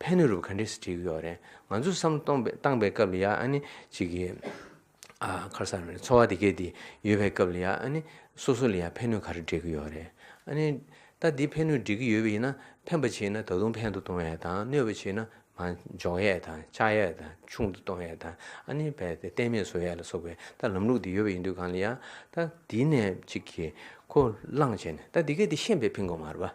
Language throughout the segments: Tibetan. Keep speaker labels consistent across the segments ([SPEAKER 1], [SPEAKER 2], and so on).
[SPEAKER 1] ཕན་ནུས་རུབ་ག་འདྲེ་སི་བྲིས་ཡོག་རེད་ང་ཚོ་བསམ་བློ་གཏོང་པའི་སྟངས་པའི་སྐབས་ལ་ཡ་ཨ་ནི་གཅིག་གི་ཨ་ཁར་གསར་བའི་འཚོ་བ་དེ་གས་དེ་ཡོད་པའི་སྐབས་ལ་ཡ་ཨ་ནི་སོ་སོ་ལ་ཡ་ཕན་ནུས་ག་རེ་འདྲེ་གི་ཡོག་རེད་ཨ་ནི་ད་དེ་ཕན་ནུས་འདྲེ་གི་ཡོད་པ་ཡིན་ན་ཕན་པ་བྱེད་ན་ད་དུང་ཕན་དུ་གཏོང་ཡས་དང་གནོད་པ་བྱེད་ན་མ་འཇོག་ཡས་དང་ཆག་ཡས་དང་ཆུང་དུ་གཏོང་ཡས་དང་ཨ་ནི་བས་ཏེ་གཏན་མེད་བཟོ་ཡས་ལ་སོགས་པའི་ད་ལམ་ལུགས་དེ་ཡོད་པ་ཡིན་དུས་གང་ལ་ཡ་ད་དེ་ནས་གཅིག་གི་ཁོ་བླངས་བྱས་ནས་ད་དེ་གས་དེ་ཤེས་པའི་ཕིན་གོ་མ་རུབ་ཨ།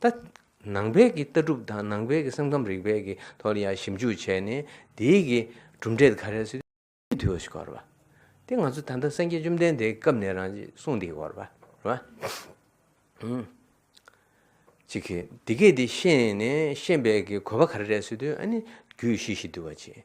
[SPEAKER 1] ད་ནང་པའི་གི་ལྟ་གྲུབ་དང་ནང་པའི་གི་སེམས་ཁམས་རིག་པའི་གི་ཐོག་ལ་ཡང་ཞིབ་འཇུག་བྱས་ནས་དེའི་གི་གྲུབ་འབྲས་དེ་ག་རེ་སོ། དུས་བཞི་སྐོར་བ། དེ་ང་ཚོ་ད་ལྟ་སངས་རྒྱས་བཅོམ་ལྡན་འདས་ཀྱི་སྐབས་ནས་རང་གསུངས་དེ་སྐོར་བ། གཅིག་གིས་དེ་སྐད་དེ་ཤེས་ནས་ཤེས་པའི་གི་གོ་བ་ག་རེ་རེད་སོ་དུས་ཨ་ནི་རྒྱུད་བཞི་བཞི་འདུལ་བ་བྱེད།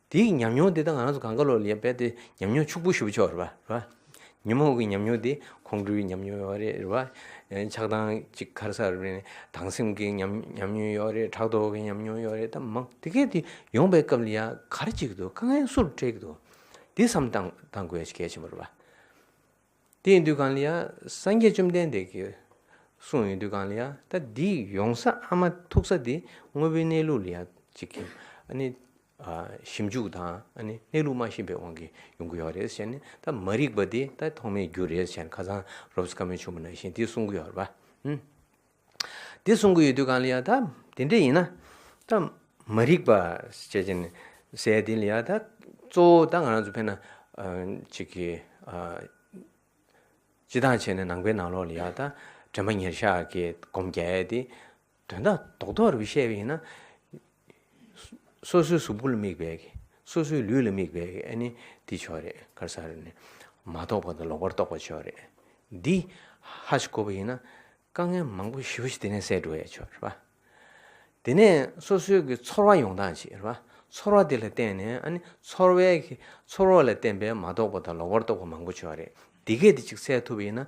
[SPEAKER 1] དེའི་ཉམས་མྱོང་དེ་དག་ང་རང་ཚོ་གངས་དཀར་ལོགས་ལ་ཡོད་པས་དེ་ཉམས་མྱོང་ཕྱུག་པོ་ཞུ་བ་ཆོག་རེད་བ། ཉིན་མོ་གི་ཉམས་མྱོང་དེ་ཁོང་ཁྲོའི་ཉམས་མྱོང་ཡོད་རེད་རེད་བ། ཆགས་སྡང་ཅིག་ཁར་སར་རེད་ནས་སྡང་སེམས་ཀྱི་ཉམས་མྱོང་ཡོད་རེད་ཕྲག་དོག་གི་ཉམས་མྱོང་ཡོད་རེད་ད་མང། དེ་གས་དེ་ཡོང་པའི་སྐབས་ལ་ཡ་གར་ཅིག་ཏུ་དཀའ་ངལ་སུར་སྤྲད་ཀྱི་འདུག་དེ་བསམ་གཏང་དགོས་གལ་ཆེན་པོ་རེད་བ། དེའི་དུས་གང་ལ་ཡ་སངས་རྒྱས་བཅོམ་ལྡན་འདས་ཀྱིས་གསུངས་ཡོད་དུས་གང་ལ་ཡ་ད་འདི་ཡོང་ས་ཨ་མ་ཐུག་ས་དེ་དངོས་པོའི་གནས་ལུགས་ལ་ཡ་ཅིག་གིས་ཨ་ནི་ཞིབ་འཇུག་དང་གནས་ལུགས་མ་ཤེས་པའི་དབང་གིས་ཡོང་གི་ཡོད་རེད་ཟེར་ནས་ད་མ་རིག་པ་དེ་ད་ཐོག་མའི་རྒྱུ་རེད་ཟེར་ནས་ཁ་སང་རོབ་སི་ཀ་མོའི་ཆུང་མ་ནང་བཞིན་དེ་གསུང་གི་ཡོད་རེད་བ། དེ་གསུང་གི་ཡོད་དུས་གང་ལ་ཡང་ད་དེ་འདྲ་ཡིན་ན་ད་མ་རིག་པ་ཟེར་ཅན་ཟས་དེ་ལ་ཡང་ད་གཙོ་བོ་ད་ང་རང་ཚོ་ཕན་ན་ཅིག་གི་སྤྱི་སྟངས་བྱས་ནས་ནང་པའི་ནང་ལོགས་ལ་ཡང་ད་དྲན་པ་ཉེར་ཤག་གི་སྒོམ་རྒྱལ་དེ། དོན་དག་རྡོག་རྡོག་རུ་བཤད་པ་ཡིན་ན། སོ་སོའི་གཟུགས་པོ་ལ་དམིགས་པས་ཀྱི། སོ་སོའི་ལུས་ལ་དམིགས་པས་ཀྱི་ཨ་ནི་འདི་ཆོག་རེད་ཁར་ས་རེད། མ་རྟོགས་པ་དང་ལོག་པར་རྟོགས་པ་ཆོག་རེད། འདི་ཧ་ཞིག་གོ་བ་ཡིན་ན། དཀའ་ངལ་མང་པོ་ཞི་བ་ཞིག་དེ་ནས་སེལ་འགྲོ་བས་ཆོག་རེད། དེ་ནས་སོ་སོའི་ཀྱི་ཚོར་བ་ཡོང་སྟངས་ཅིག་རེད། ཚོར་བ་དེ་ལ་བརྟེན་ནས་ཨ་ནི་ཚོར་བས་ཀྱི། ཚོར་བ་ལ་བརྟེན་པས་མ་རྟོགས་པ་དང་ལོག་པར་རྟོགས་པ་མང་པོ་ཆོག་རེད། འདི་སྐད་དེ་ཅིག་སེལ་ཐུབ་པ་ཡིན་ན་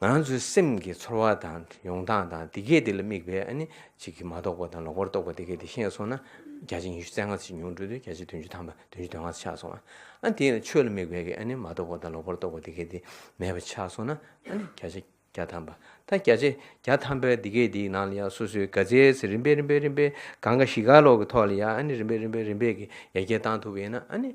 [SPEAKER 1] ང་རང་ཚོའི་སེམས་ཀྱི་ཚོར་བ་དང་ཡོང་སྟངས་དང་དེ་སྐད་དེ་ལ་དམིགས་པའི་ཨ་ནི་ཅིག་གིས་མ་རྟོགས་པ་དང་ལོག་པར་རྟོགས་པ་དེ་སྐད་དེ་ཤེས་སོང་ན། བརྒྱ་ཆ་ཉི་ཤུ་རྩེ་ལྔ་ཚིག་ཉུང་དྲུག་དུས་བརྒྱ་ཆ་བདུན་ཅུ་ཐམ་པ་བདུན་ཅུ་དོན་ལྔ་ཆགས་སོང་ཨ། ཨ་དེ་ཡང་ཆོས་ལ་དམིགས་པའི་ཨ་ནི་མ་རྟོགས་པ་དང་ལོག་པར་རྟོགས་པ་དེ་སྐད་དེ་མེད་པ་ཆགས་སོང་ན་ཨ་ནི་བརྒྱ་ཆ་བརྒྱ་ཐམ་པ་ད་བརྒྱ་ཆ་བརྒྱ་ཐམ་པའི་དེ་སྐད་དེའི་ནང་ལ་ཡང་སོ་སོའི་དགའ་ཚལ་ཚེ་རིམ་པས་རིམ་པས་རིམ་པས་གང་ག་ཞི་ག་ལོག་གི་ཐོག་ལ་ཡང་ཨ་ནི་རིམ་པས་རིམ་པས་རིམ་པས་ཀྱི་ཡ་གྱལ་བཏང་ཐུབ་པ་ཡིན་ན་ཨ་ནི།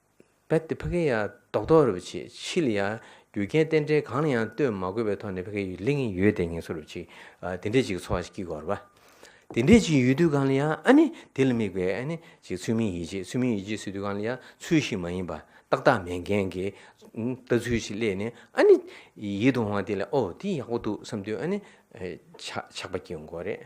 [SPEAKER 1] རྦད་དེ་ཕ་གི་ཡ་རྡོག་རྡོག་རེ་བ་བྱེད་ཕྱི་ལ་ཡ་རྒྱུ་རྐྱེན་རྟེན་འབྲེལ་གང་ལ་ཡང་ལྟོས་མ་དགོས་པའི་ཐོག་ནས་ཕ་གི་ཡུལ་ལིང་ཡོད་དེ་ངན་སོ་རུ་བྱེད་དེ་འདྲས་ཅིག་གི་འཚོ་བ་ཞིག་སྐྱིད་གོ་ར་བ། དེ་འདྲས་ཅིག་ཡོད་དུས་གང་ལ་ཡ་ཨ་ནི་དེ་ལ་དམིགས་པའི་ཨ་ནི་ཅིག་ཚུལ་མིན་ཡིད་ཆེས་ཚུལ་མིན་ཡིད་ཆེས་སུས་དུས་གང་ལ་ཡ་ཚུལ་ཞིག་མ་ཡིན་པ་ཏག་ཏག་མེད་མཁན་གི་ལྟ་ཚུལ་ཞིག་སླེས་ནས་ཨ་ནི་ཡིད་དུ་འོང་བ་དེ་ལ་ཨོ་དེ་ཡག་པོ་འདུག་བསམ་དུས་ཨ་ནི་ཆགས་པ་སྐྱིད་འགོ་རེད།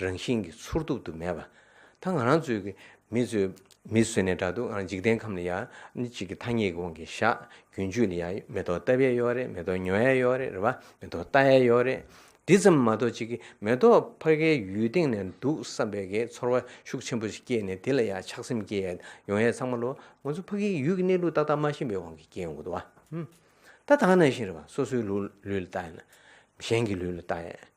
[SPEAKER 1] རང་བཞིན་གྱིས་ཚུར་རྟོག་ཏུ་མེད་པ། ད་ང་རང་ཚོའི་གི་མི་ཚོས་མི་བཟོས་ནས་འདྲ་འདུག་འཇིག་རྟེན་ཁམས་ལ་ཡ་ནི་གཅིག་གི་ཐ་སྙད་ཀྱི་དབང་གིས་བཞག་རྒྱུན་སྤྱོད་ལ་ཡ་མེ་ཏོག་བཏབ་ཡས་ཡོད་རེད་མེ་ཏོག་ཉོ་ཡས་ཡོད་རེད་རེད་བ་མེ་ཏོག་བལྟ་ཡས་ཡོད་རེད། འདི་ཙམ་མ་གཏོགས་གཅིག་གི་མེ་ཏོག་ཕ་གའི་ཡུལ་སྟེང་ནས་འདུག་བསམ་པའི་གི་ཚོར་བ་ཤུགས་ཆེན་པོ་ཞིག་སྐྱེས་ནས་དེ་ལ་ཡ་ཆགས་སེམས་སྐྱེ་ཡས་ཡོང་ཡས་ཚང་མ་ལོ་ང་ཚོ་ཕ་གིའི་ཡུལ་གྱི་གནས་ལུགས་ཏག་ཏག་མ་ཤེས་པའི་དབང་གིས་སྐྱེས་ཡོང་གི་འདུག་བ། ད་ད་ནང་བཞིན་རེད་བ་སོ་སོའི་ལུས་ལ་བལྟ་ཡས་ན། གཞན་གྱི་ལུས་ལ་བལྟ་ཡས།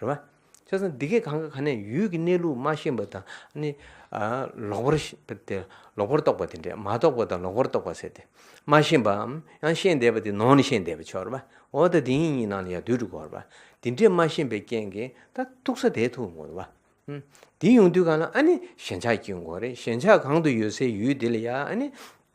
[SPEAKER 1] རེད་བ། ཆོལ་ཁ་འདི་སྐད་གང་ག་ག་ནས་ཡུལ་གྱི་གནས་ལུགས་མ་ཤེས་པ་དང་ནི། ལོག་པར། ལོག་པར་རྟོག་པ་དེ་འདྲས་མ་རྟོག་པ་དང་ལོག་པར་རྟོག་པ་ཟེར་ཏེ། མ་ཤེས་པའམ་ཡང་ཤེས་འདས་པ་དེ་ནང་ནས་ཤེས་འདས་པ་ཆོས་རེད་བ། འོ་ད་དེ་གཉིས་གཉིས་ནང་ནས་ཡང་དུས་དྲུག་གོ་རེད་བ། དེ་འདྲས་མ་ཤེས་པའི་རྐྱེན་གྱིས་ད་ཐུག་ས་དེ་ཐུག་ངོ་རེད་བ། དེ་ཡོང་དུས་གང་ལ་ཨ་ནི་ཞེན་ཆགས་སྐྱེ་དགོས་རེད་ཞེན་ཆགས་གང་དུ་ཡོད་སའི་ཡུལ་དེ་ལ་ཡང་ཨ་ནི།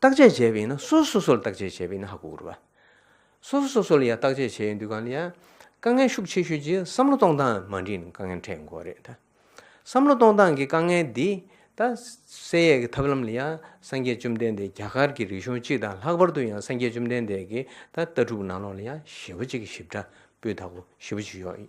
[SPEAKER 1] བརྟག་དཔྱད་བྱས་པ་ཡིན་ན་སོ་སོ་སོ་སོར་བརྟག་དཔྱད་བྱས་པ་ཡིན་ན་ཧ་གོ་དགོས། སོ་སོ་སོ་སོ་ལ་ཡང་བརྟག་དཔྱད་བྱས་ཡོད་འདུག་གང་ལ་ཡང་དཀའ་ངལ་ཤུགས་ཆེ་ཤོས་ཀྱི་བསམ་བློ་གཏོང་སྟངས་མ་འགྲིག་ན་དཀའ་ངལ་འཕྲད་འགོ་རེད་ད། བསམ་བློ་གཏོང་སྟངས་ཀྱི་དཀའ་ངལ་འདི་ད་བསལ་ཡས་ཀྱི་ཐབས་ལམ་ལ་ཡང་སངས་རྒྱས་བཅོམ་ལྡན་འདས་རྒྱ་གར་གྱི་རིག་གཞུང་གཅིག་དང་ལྷག་པར་དུ་ཡང་སངས་རྒྱས་བཅོམ་ལྡན་འདས་ཀྱི་ད་ལྟ་གྲུབ་ནང་ལོགས་ལ་ཡང་ཞེ་བོ་གཅིག་གི་ཞིབ་ཕྲ་སྤུས་དག་པོ་ཞེ་བོ་གཅིག་ཡོད།